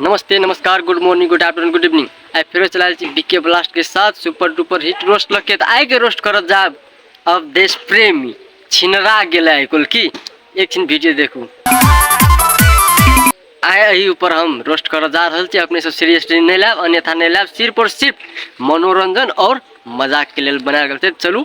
नमस्ते नमस्कार good morning good afternoon good evening आइ फेरो चला रहल छी बीके ब्लास्ट के साथ सुपर डुपर हिट रोस्ट लग के तऽ आइ के रोस्ट करत जाब अब देश प्रेमी छिनरा गेल है कुल की एक छिन वीडियो देखू आइ एहि ऊपर हम रोस्ट करत जा रहल छी अपने सब सीरियसली नहि लायब अन्यथा नहि लायब सिर्फ और सिर्फ मनोरंजन और मजाक के लेल बनायल गेल छै चलू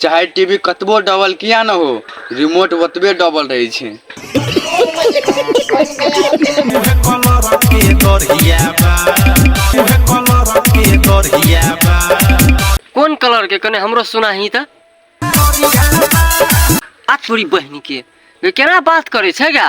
चाहे टी वी कतबो डबल किया ने हो रिमोट ओतबे डबल रहै छै कोन कलर के कने हमरो सुना ही त आ छोरी बहनी के केना बात करे छै गा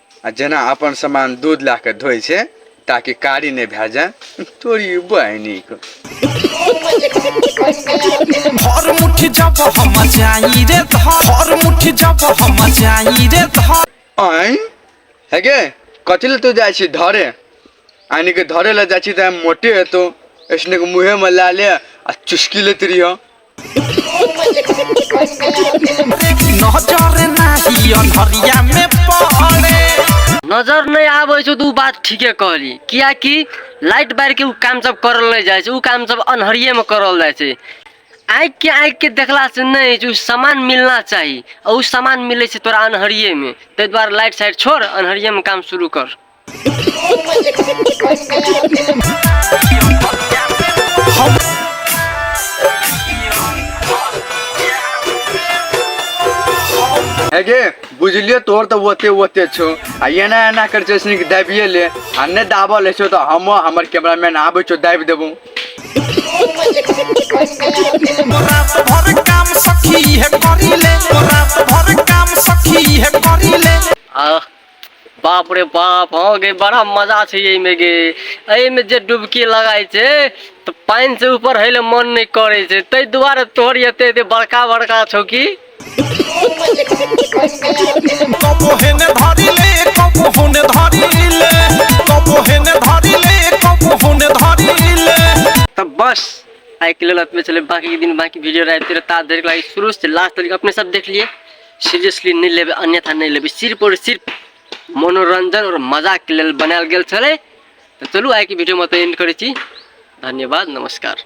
आ जेना अपन सामान दूध लए कऽ धोइ छै ताकि कारी नहि भए जाय तोरी बहिनीके हर मुट्ठी जब हम जाई रे धर हर मुट्ठी जब हम जाई रे धर आँय हे गे कथी लए तू जाइ छी धरे आनि के धरे लए जाइ छी तऽ मोटे हेतौ ऐसने के मुँहेमे लए ले आ चुस्की लैत रहिह नजर नाही अन्हरिया में पड़े नजर नहीं आवे छो तू बात ठीके कहली किया कि लाइट बार के उ काम सब करल नहीं जाए छे उ काम सब अनहरिये में करल जाए छे आँख के आँख के देखला से नहीं जो सामान मिलना चाहिए और उ सामान मिले छे तोरा अनहरिये में ते द्वारा लाइट साइट छोड़ अनहरिये में काम शुरू कर हेगे बुझलिए तोर तो ओते ओते छो आ एना एना कर छै सुन के दाबिए ले आ ने दाबल ले छो तो हम हमर कैमरामैन आबे छो दाबि देबो रात भर काम सखी है करीले रात भर काम सखी है करीले आ बाप रे बाप हँ गे बड़ा मजा छै एहिमे गे एहिमे जे डुबकी लगाइ छै तऽ पानि से ऊपर हेले मन नहि करै छै ताहि दुआरे तोहर एते एते बड़का बड़का छौ की कबो हेने धरी ले कबो होने धरी ले कबो हेने धरी ले कबो होने धरी ले तऽ बस आइ के लेल एतबे छलै बाकी दिन बाकी वीडियो रहते रहै ता धरि के लागि शुरू से लास्ट तक अपने सब देख लिए सीरियसली नहि लेबै अन्यथा नहि लेबै सिर्फ आओर सिर्फ मनोरञ्जन आओर मजाक लेल बनायल गेल छलै तऽ चलू आइके वीडियोमे तऽ एंड करै छी धन्यवाद नमस्कार